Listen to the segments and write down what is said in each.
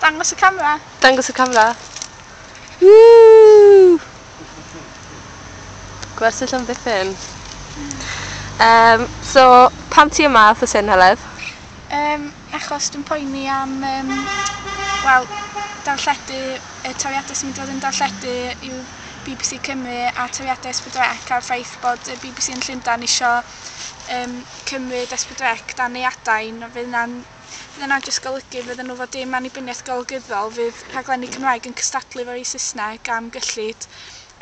Dangos y camera! Dangos y camera! Woo! Gwersyll am ddiffyn. Um, so, pan ti yma, wrth y syn, Heledd? Um, achos dwi'n poeni am, um, wel, darlledu, y toriadau sy'n mynd i fod yn darlledu yw BBC Cymru a toriadau Esbydrec a'r ffaith bod y BBC yn Llundain eisiau um, cymryd Esbydrec dan ei adain, fydd yna'n Bydd hynna'n jyst golygu fydden nhw efo dim annibyniaeth golygyddol, fydd rhaglenni Cymraeg yn cystadlu efo rhei Saesneg am gyllid,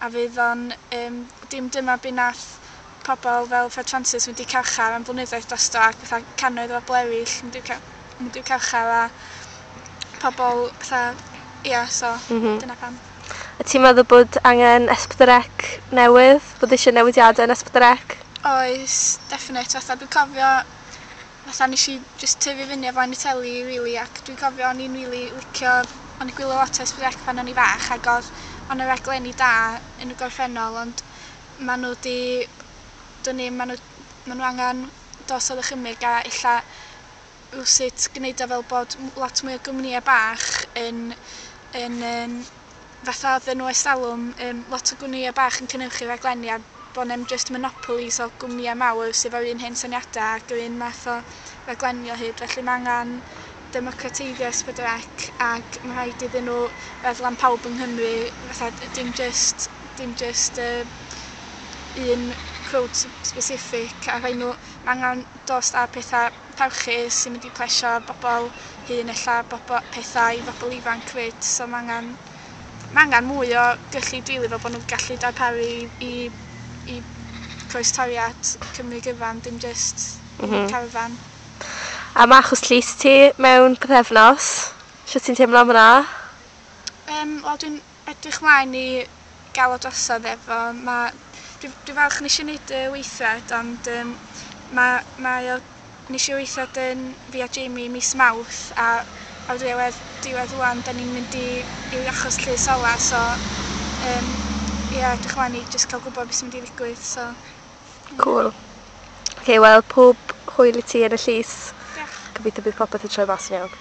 a fydd o'n um, dim dyma be nath pobl fel Fred Francis mynd i carchar am flynyddoedd drosto ac fatha cannoedd o bobl eraill mynd i'w mynd i'w carchar a pobl fatha ia so mm -hmm. dyna pam. A ti'n meddwl bod angen esbdrec newydd? Bod eisiau newidiadau yn esbdrec? Oes, definite. Fatha, dwi'n cofio fatha nesh i jyst tyfu fyny o flaen y teli rili ac dwi'n cofio o'n i'n rili licio o'n i'n gwylio lot o Esbyd Rec pan o'n i fach ag odd o' 'na raglenni da yn y gorffennol ond ma' n'w 'di dwn i ma' n'w ma' n'w angan dos a ddychymyg a ella rywsut gneud o fel bod m- lot mwy o gwmnïe bach yn yn yym fatha odden nhw ers talwm yym lot o gwmnïe bach yn cynyrchu rhaglenni a bo' 'nem jyst monopolies o gwmnïe mawr sy 'fo'r un hen syniada ac yr un math o raglenni o hyd felly ma' angan democrateiddio es pedwar ec ag ma' rhaid iddyn nhw feddwl am pawb yng Nghymru fatha dim jyst dim jyst yy un crowd sbesiffig a rhai' nhw ma' angan dost a petha parchu sy'n mynd i plesio bobl hŷn ella bobo- pethau i bobl ifanc 'fyd so ma' angan ma' angan mwy o gyllid rili fel bo' nw'n gallu darparu i i i croestoriad Cymru gyfan dim jyst... M-hm. ...un carfan. A ma' achos llys ti mewn pythefnos. Shwt ti'n teimlo am wnna? Yym wel dwi'n edrych mlaen i gael o drosodd efo ma dwi dwi falch neshi neud y weithred ond yym ma' mae o neshi weithred yn fi a Jamie mis Mawrth a ar ddiwedd diwedd ŵan 'dan ni'n mynd i i achos llys ola so yym ia edrych mlaen i jyst ca'l gwbo be' sy'n mynd i ddigwydd so. Cŵl. Oce wel pob hwyl i ti yn y llys. Dioch. Gobeithio bydd popeth yn troi mas yn iawn.